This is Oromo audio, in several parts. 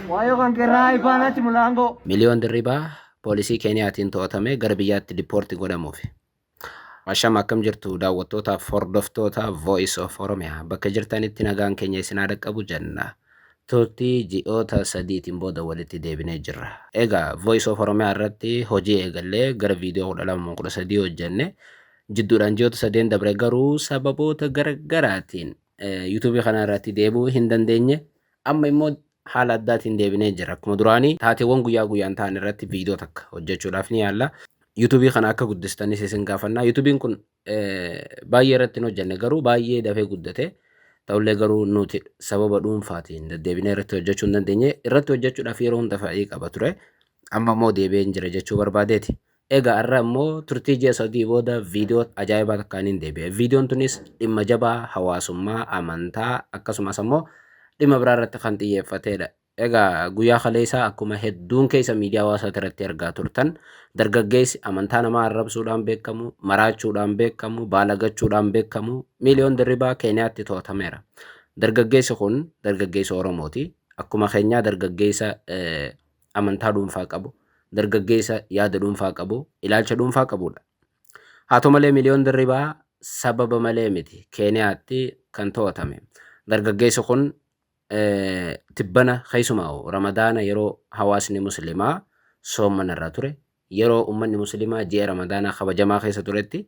Waayoo kan kerraa ifaanatti mulaangoo. Miliyoon Dirribaa poolisii Keeniyaatiin to'atamee gara biyyaatti dippoorti godhamuuf. Asham akkam jirtu daawwattootaaf hordoftoota Voice of Oromia bakka jirtanitti nagaan keenya isin haa dhaqqabu jenna. Turtii ji'oota sadiitiin booda walitti deebinee jirra. Egaa Voice of Oromia irratti hojii eegallee gara viidiyoo 12 13 hojjenne Jidduudhaan ji'oota sadeen dabre garuu sababoota garaggaraatiin yuutuubii kana irratti deebi'uu hin dandeenye. Amma immoo haala addaatiin deebinee jira. Akkuma duraanii taateewwan guyyaa guyyaan ta'an irratti viidiyoo takka hojjechuudhaaf ni yaalla. Yuutuubii kana akka guddistanis isin gaafannaa. Yuutuubiin kun baay'ee irratti hin hojjenne garuu baay'ee dafee guddate. Ta'ullee garuu nuti sababa dhuunfaatiin deddeebinee irratti hojjechuu hin dandeenye. Irratti hojjechuudhaaf yeroo hunda fa'ii qaba ture. Amma immoo deebi'een jira jechuu barbaadeeti. Egaa arra immoo turtii ji'a sadii booda viidiyoo ajaa'ibaa takkaaniin deebi'e. Viidiyoon tunis dhimma jabaa hawaasummaa, amantaa akkasumas ammoo dhimma biraa irratti kan xiyyeeffateedha. Egaa guyyaa kaleessaa akkuma hedduun keessa miidiyaa hawaasaa irratti argaa turtan dargaggeessi amantaa namaa arrabsuudhaan beekamu, maraachuudhaan beekamu, baalagachuudhaan beekamu miiliyoon dirribaa Keeniyaatti to'atameera. Dargaggeessi kun dargaggeessa Oromooti. Akkuma keenyaa dargaggeessa amantaa dhuunfaa qabu, dargaggeessa yaada dhuunfaa qabu, ilaalcha dhuunfaa qabudha. Haa ta'u malee Miliyoon Dirribaa sababa malee miti Keeniyaatti kan to'atame. Dargaggeessi kun tibbana keessumaa Ramadaana yeroo hawaasni Musliimaa soomana irra ture, yeroo uummanni Musliimaa ji'a Ramadaanaa kabajamaa keessa turetti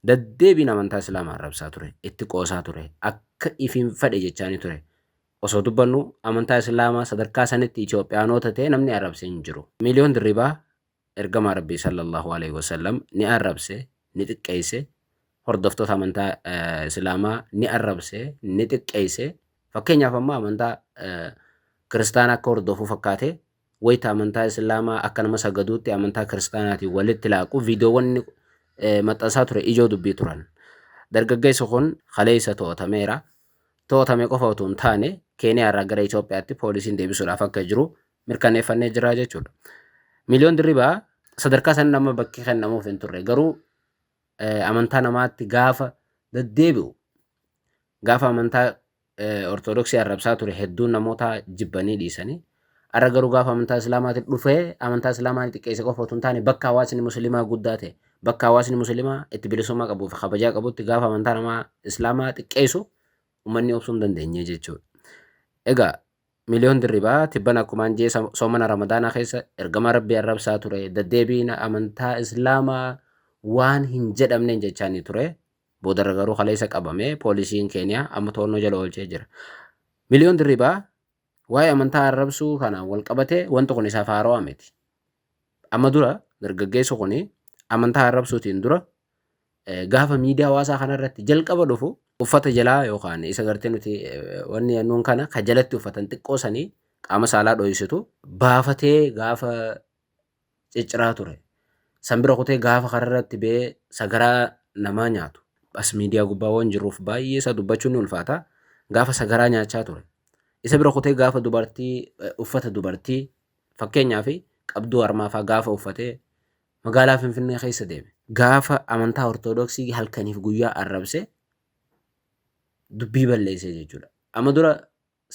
daddeebiin amantaa Islaamaa arrabsaa ture, itti qoosaa ture, akka ifiin fedhe jechaanii ture. Osoo dubbannu amantaa islaamaa sadarkaa sanitti Itoophiyaanoota ta'e namni arrabse hin jiru. Miliyoon Dirribaa Ergamaa Rabbii Sallallaahu Aleyhi Wasallam ni arrabse, ni xiqqeeyse, hordoftoota amantaa islaamaa ni arrabse, ni xiqqeeyse, fakkeenyaaf amma amantaa kiristaanaa akka hordofu fakkaatee wayta amantaa Islaamaa akka nama sagaduutti amantaa Kiristaanaatiin walitti laaqu viidiyoowwan inni maxxansaa ture ijoo dubbii turan. Dargaggeessi kun kaleessa to'atameera. To'atame qofa utuu hin taane Keeniyaarraa gara Itoophiyaatti poolisiin deebisuudhaaf akka jiru mirkaneeffannee jira jechuudha. Miliyoon Dirribaa sadarkaa san nama bakki kennamuuf hin turre garuu amantaa namaatti gaafa deddeebi'u gaafa amantaa Ortodoksii arrabsaa ture hedduun namoota jibbanii dhiisanii arra garuu gaafa amantaa Islaamaatti dhufee amantaa Islaamaan xiqqeesse qofa otoo hin taane bakka hawaasni musliimaa guddaa ta'e bakka hawaasni musliimaa itti bilisummaa qabuu fi kabajaa qabutti gaafa amantaa namaa Islaamaa xiqqeessu uummanni obsuu hin dandeenye jechuudha. Egaa miliyoon dirribaa tibban akkumaan jee soomana ramadaanaa keessa ergamaa rabbii arrabsaa ture daddeebiina amantaa Islaamaa waan hin jedhamneen jechaanii ture Boodarra garuu kaleessa qabame poolisiin Keeniyaa amma to'annoo jala oolchee jira. Miliyoon Dirribaa waa'ee amantaa arrabsuu kanaan wal qabatee wanti kun isaaf haarawaa miti. Amma dura dargaggeessi kun amantaa arrabsuutiin dura gaafa miidiyaa hawaasaa kanarratti jalqaba dhufu uffata jalaa yookaan isa gartee nuti wanni nuun kana ka jalatti uffatan xiqqoo sanii qaama saalaa dhoysitu baafatee gaafa cicciraa ture. San bira kutee gaafa kararratti ba'ee sagaraa namaa nyaatu as miidiyaa gubbaa waan jirruuf baay'ee isaa dubbachuun ni ulfaata. Gaafa sagaraa nyaachaa ture. Isa bira kutee gaafa dubartii uffata dubartii fakkeenyaaf qabduu harmaafaa gaafa uffatee magaalaa Finfinnee keessa deeme. Gaafa amantaa Ortoodooksii halkaniif guyyaa arrabse dubbii balleessee jechuudha. Amma dura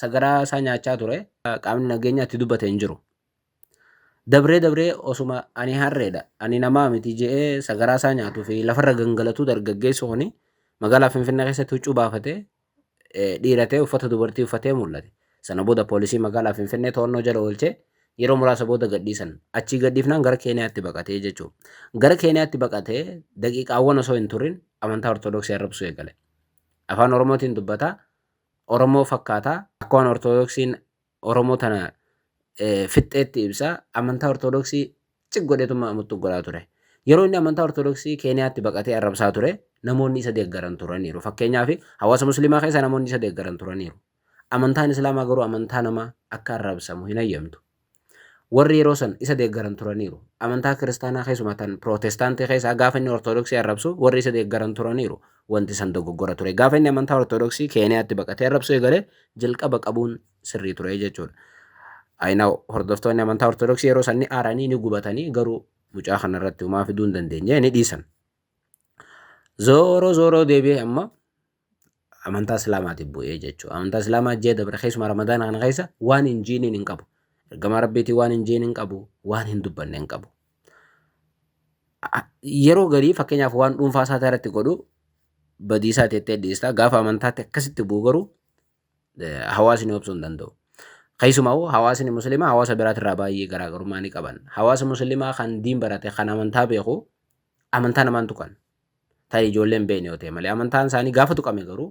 sagaraa isaa nyaachaa ture. Qaamni nageenyaa itti dubbate hin jiru. Dabree dabree osuma ani harreedha, ani namaa miti je'ee sagaraa isaa nyaatuu fi lafarra gangalatuu dargaggeessi kuni magaalaa Finfinnee keessatti huccuu baafatee dhiiratee uffata dubartii uffatee mul'ate. Sana booda poolisii magaalaa Finfinnee to'annoo jala oolchee yeroo muraasa booda gadhiisan. Achii gadhiifnaan gara Keeniyaatti baqatee jechuudha. Gara Keeniyaatti baqatee daqiiqaawwan osoo hin turin amantaa Ortodoksii arrabsuu eegale. Afaan Oromootiin dubbata, Oromoo fakkaata. Akka waan Ortodoksiin Oromoo tana fixxeetti ibsa. Amantaa Ortodoksii cig godheetuma muttu godhaa ture. Yeroo inni amantaa Ortodoksii Keeniyaatti baqatee arrabsaa ture namoonni isa deeggaran turaniiru. Fakkeenyaaf hawaasa Musliimaa keessa namoonni isa deeggaran turaniiru. Amantaan Islaamaa garuu amantaa nama akka arrabsamu hin hayyamtu. Warri yeroo san isa deeggaran turaniiru. Amantaa Kiristaanaa keessumaa tan Pirootestaantii keessaa gaafa inni Ortodoksii arrabsu warri isa deeggaran turaniiru. Wanti san dogoggora ture. Gaafa inni amantaa Ortodoksii Keeniyaatti baqatee arrabsuu eegale jalqaba qabuun sirrii ture jechuudha. Ayinaw hordoftoonni amantaa Ortodoksii yeroo san ni aaranii ni gubatanii garuu mucaa kana irratti homaa fiduu hin dandeenye ni dhiisan. Zooroo zooroo deebi'ee amma amantaa islaamaatiif bu'ee jechuudha. Amantaa islaamaa ji'a dabre keessumaa ramadaana kana keessa waan hin jiiniin hin qabu. Ergamaa rabbiitii waan hin jiin hin qabu, waan hin dubbanne hin qabu. Yeroo garii fakkeenyaaf waan dhuunfaa isaa irratti godhu badiisaa teettee dhiistaa gaafa amantaatti akkasitti bu'u garuu hawaasni obsuu hin danda'u. Keessumaa hawaasni musliimaa hawaasa biraatirraa baay'ee garaagarummaa ni qaban. Hawaasa musliimaa kan diin barate kan amantaa beeku amantaa namaan tuqan. tarii ijoollee hin beekne yoo ta'e malee amantaan isaanii gaafa tuqame garuu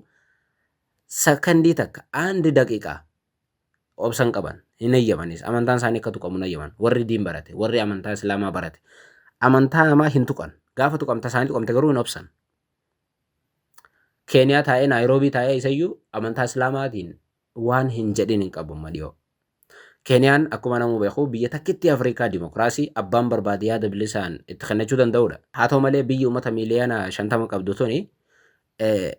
sakandii takka aandi daqiiqaa obsa hin qaban hin eeyyamanis amantaan isaanii akka tuqamu hin eeyyaman warri diin barate warri amantaa islaamaa barate amantaa namaa hin tuqan gaafa tuqamta isaanii tuqamte garuu hin obsan keeniyaa taa'ee naayiroobii taa'ee isayyuu amantaa islaamaatiin waan hin jedhin hin qabu amma dhiyoo. Keeniyaan akkuma namuu beeku biyya takkittii Afrikaa dimokiraasii abbaan barbaade yaada bilisaan itti kennachuu danda'udha. Haa ta'u malee biyyi uummata miiliyoona 50 qabdu tuni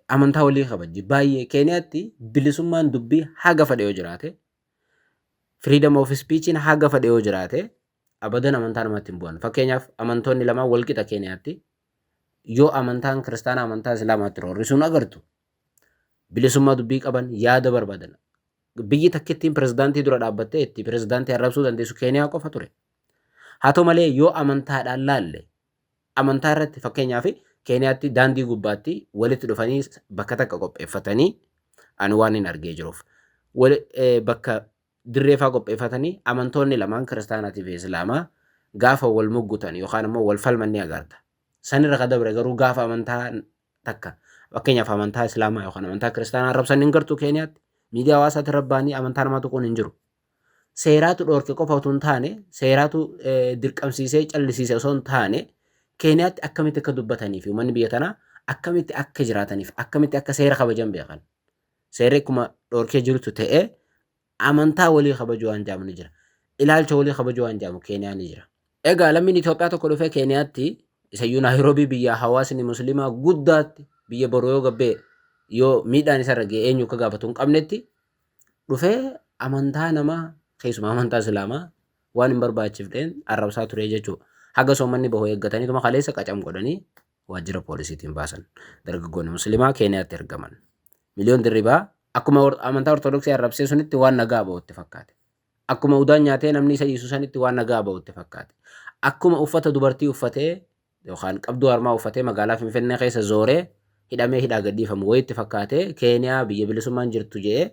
amantaa walii kabajji. Baay'ee Keeniyaatti bilisummaan dubbii haga fedhe yoo jiraate, freedom of speechiin haga fedhe yoo jiraate abadan amantaa namatti hin bu'an. Fakkeenyaaf amantoonni lamaan walqixa Keeniyaatti yoo amantaan kiristaanaa amantaa islaamaatti roorrisuun agartu bilisummaa dubbii qaban yaada barbaadan biyyi takkittiin pirezidaantii dura dhaabbattee itti pirezidaantii arrabsuu dandeessu keeniyaa qofa ture. Haa ta'u malee yoo amantaadhaan laalle amantaa irratti fakkeenyaaf keeniyaatti daandii gubbaatti walitti dhufanii bakka takka qopheeffatanii ani waan hin argee jiruuf bakka dirree faa qopheeffatanii amantoonni lamaan kiristaanaatii fi islaamaa gaafa wal muggutan yookaan ammoo wal falman ni agarta. Sanirra ka dabre garuu gaafa amantaa takka fakkeenyaaf amantaa islaamaa yookaan amantaa kiristaanaa arrabsan hin gartu keeniyaatti miidiyaa hawaasaatti irra ba'anii amantaa namaa tuquun hin jiru. Seeraatu dhoorke qofa utuu hin taane seeraatu eh, dirqamsiisee callisiise osoo hin taane keeniyaatti akkamitti akka dubbatanii fi uummanni biyya tanaa akkamitti akka jiraataniif akkamitti akka seera kabajan beekan. Seerri akkuma dhorkee jirutu ta'ee amantaa walii kabajuu waan jedhamu ni jira. Ilaalcha walii kabajuu waan jedhamu Keeniyaa ni jira. Egaa lammiin Itoophiyaa tokko dhufee Keeniyaatti isayyuu Naayiroobii biyya hawaasni musliimaa guddaatti biyya boru yoo gabbee yoo miidhaan isarra ga'e eenyu akka gaafatu hin qabnetti dhufee amantaa namaa keessumaa amantaa islaamaa waan hin barbaachifneen arrabsaa ture jechuudha. Haga soomanni bahu eeggataniituma kaleessa qacam godhanii waajjira poolisiitiin baasan. Dargaggoonni Musliimaa Keeniyaatti ergaman. Miliyoon Dirribaa akkuma amantaa Ortodoksii arrabsee sunitti waan nagaa ba'utti fakkaate. Akkuma udaan nyaatee namni isa dhiisu sanitti waan nagaa ba'utti fakkaate. Akkuma uffata dubartii uffatee yookaan qabduu harmaa uffatee magaalaa Finfinnee keessa zooree hidhamee hidhaa gadhiifamu wayitti fakkaatee Keeniyaa biyya bilisummaan jirtu je'ee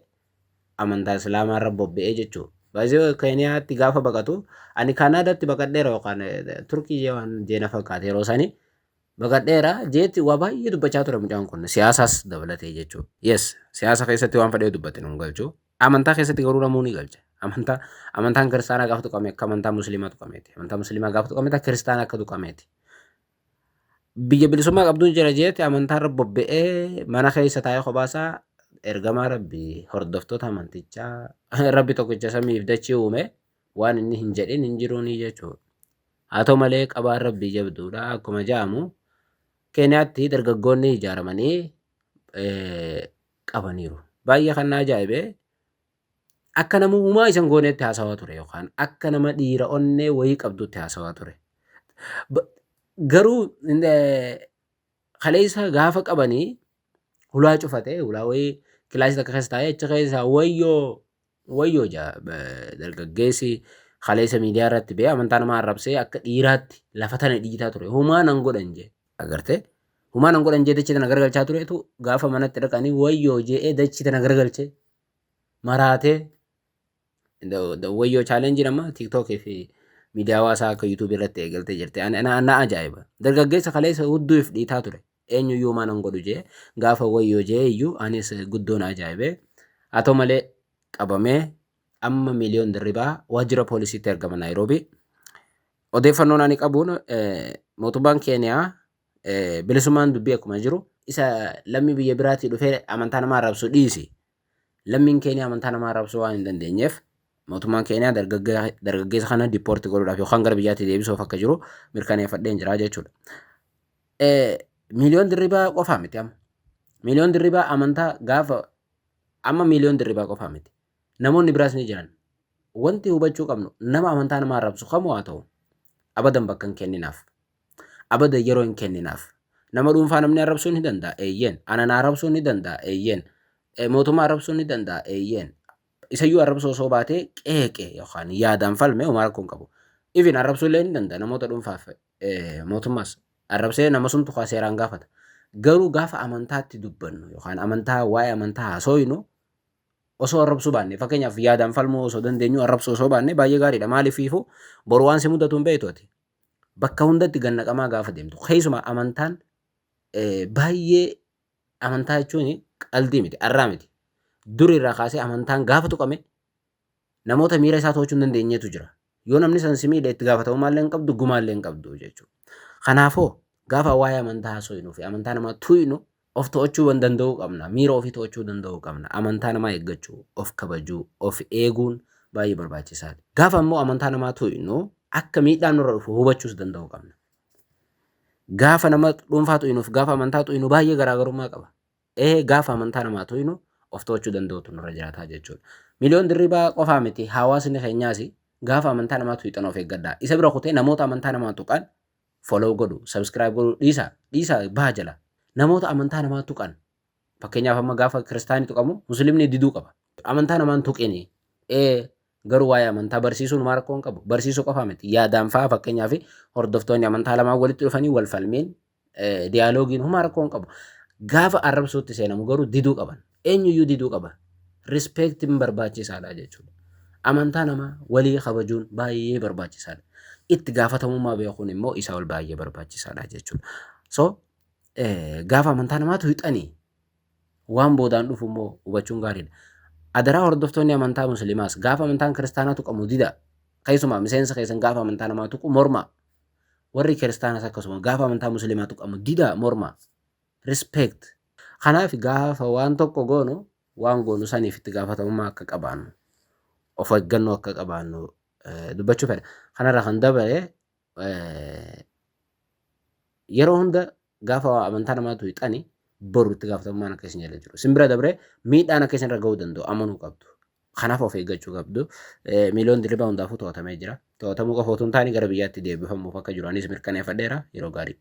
amantaa islaamaa irra bobba'ee jechuudha. Baay'ee Keeniyaatti gaafa baqatu ani Kaanaadaatti baqadheera yookaan Turkii jee waan jeena fakkaate yeroo sanii baqadheera jeetti waa baay'ee dubbachaa ture mucaan kun siyaasaas dabalatee jechuudha. Yes siyaasa keessatti waan fedhee dubbate nun galchu amantaa keessatti garuu namuu ni galcha. Amantaa amantaan kiristaanaa gaafa tuqame akka amantaa musliimaa tuqameeti. Amantaa musliimaa gaafa tuqame akka kiristaanaa akka tuqameeti. biyya bilisummaa qabduun jira jeetti amantaarra bobba'ee mana keessa taa'ee kophaasaa ergamaa rabbi hordoftoota amantichaa rabbi tokkicha samiif dachii uume waan inni hin jedhin hin jiruunii jechuudha. Haa ta'u malee qabaan rabbii jabduudha akkuma ja'amu keeniyaatti dargaggoonni ijaaramanii qabaniiru. Baay'ee kan na ajaa'ibe Akka nama humaa isan gooneetti haasawaa ture yookaan akka nama dhiira onnee wayii qabduutti haasawaa ture. Ba- Garuu in- eh, kaleessa gaafa qabanii hulaa cufate hulaa wayii kilaasii takka keessa taa'ee achi keessaa wayyoo wayyoo jaa ba- dargaggeessi kaleessa miidiyaa irratti bee amantaa namaa arrabsee akka dhiiraatti lafa tana dhiitaa ture humaa nan godhan jee agartee humaa nan godhan jee dachii tana gargalchaa turetu gaafa manatti dhaqanii wayyoo jee'ee dachii tana gargalchee maraatee wayyoo chaalenjiin amma tiktok fi miidiyaa hawaasaa akka yuutuubii irratti eegaltee jirti na ajaa'iba dargaggeessa kaleessa hudduuf dhiitaa ture eenyuyyuu maan hin godhu jee gaafa wayyoo jee iyyuu anis guddoon ajaa'ibee haa ta'u malee qabamee amma miiliyoon dirribaa waajjira poolisiitti ergama naayiroobii odeeffannoon ani qabuun mootummaan keeniyaa Bilisummaan dubbii akkuma jiru isa lammii biyya biraatii dhufee amantaa namaa arrabsu dhiisi. Lammiin Keeniyaa amantaa namaa arrabsuu waan hin dandeenyeef mootummaan Keeniyaa dargaggeessa kana dippoorti godhuudhaaf yookaan gara biyyaatti deebisuuf akka jiru mirkaneeffadheen jira jechuudha. Miiliyoon dirribaa qofaa miti amma. Miiliyoon dirribaa amantaa gaafa amma miiliyoon dirribaa qofaa miti. Namoonni biraas ni jiran. Wanti hubachuu qabnu nama amantaa namaa arrabsu kamuu haa ta'u abadan bakka hin kenninaaf. Abadan yeroo hin kenninaaf. Nama dhuunfaa namni arrabsuu ni danda'a. Eeyyeen. Ana na arrabsuu ni danda'a. Eeyyeen. Eh, Mootummaa arrabsuu ni danda'a. Eeyyeen. Isayyuu arrabsuu osoo baatee qeeqe yookaan yaadaan falme homaa rakkoo hin qabu. Even arrabsuu illee ni danda'a namoota dhuunfaaf eh, mootummaas arrabsee nama sumtu kaa seeraan gaafata. Garuu gaafa amantaatti dubbannu yookaan amantaa waa'ee amantaa haasooynu osoo arrabsuu baanne fakkeenyaaf yaadaan falmuu osoo dandeenyu arrabsuu osoo baanne baay'ee gaariidha. Maaliif ifu boru waan si mudatu hin beektu ati. bakka hundatti gad naqamaa gaafa deemtu keessumaa amantaan baay'ee amantaa jechuun qaldii miti arraa miti duri irraa kaasee amantaan gaafa tuqame namoota miira isaa to'achuu hin dandeenyetu jira yoo namni san si miidhe itti gaafatamummaa illee hin qabdu gumaa illee hin qabdu jechuudha kanaafoo gaafa waa'ee amantaa haasofnu fi amantaa namaa tuynu Of to'achuu wan danda'uu qabna. Miira ofii to'achuu danda'uu qabna. Amantaa namaa eeggachuu, of kabajuu, of eeguun baay'ee barbaachisaadha. Gaafa immoo amantaa namaa to'inu akka miidhaan nurra dhufu hubachuus danda'uu qabna. Gaafa nama dhuunfaa to'inuuf gaafa amantaa to'inu baay'ee garaagarummaa qaba. Ee gaafa amantaa namaa to'inu of to'achuu danda'uutu nurra jiraataa jechuudha. Miliyoon dirribaa qofaa miti hawaasni keenyaas gaafa amantaa namaa tuqxan of eeggadhaa. Isa bira kutee namoota amantaa namaa tuqan follow godhu subscribe godhu dhiisa dhiisa baha jala namoota amantaa namaa tuqan fakkeenyaaf amma gaafa kiristaanii tuqamu muslimni diduu qaba amantaa namaan tuqini ee garuu waa'ee amantaa barsiisuun maa rakkoo hin qabu barsiisuu qofa miti yaadaan fa'aa fakkeenyaaf hordoftoonni amantaa lamaan walitti dhufanii wal falmiin diyaaloogiin humaa rakkoo hin qabu gaafa arrabsuutti seenamu garuu diduu qaban Eenyuyyuu diduu qaba. Respectin barbaachisaadha jechuudha. Amantaa namaa walii kabajuun baay'ee barbaachisaadha. Itti gaafatamummaa beekuun immoo isaa ol baay'ee barbaachisaadha jechuudha. So gaafa amantaa namaatu hixanii waan boodaan dhufu immoo hubachuun gaariidha. Adaraa hordoftoonni amantaa musliimaas gaafa amantaan kiristaanaa tuqamu dida. Keessumaa miseensa keessan gaafa amantaa namaa tuqu morma. Warri kiristaanas akkasuma gaafa amantaa musliimaa tuqamu dida morma. Respect. Kanaaf gaafa waan tokko goonu waan goonu saniif itti gaafatamummaa akka qabaannu of eeggannoo akka qabaannu dubbachuu fedha. Kanarra kan dabare yeroo hunda gaafa amantaa namaa tuyxani boru itti gaafatamummaan akka isin jala jiru. Isin bira dabree miidhaan akka isinirra ga'uu danda'u amanuu qabdu. Kanaaf of eeggachuu qabdu. Miiliyoon dirribaa hundaafuu to'atamee jira. To'atamuu qofa otoo hin taane gara biyyaatti deebifamuuf akka jiru anis mirkaneeffadheera yeroo gaarii.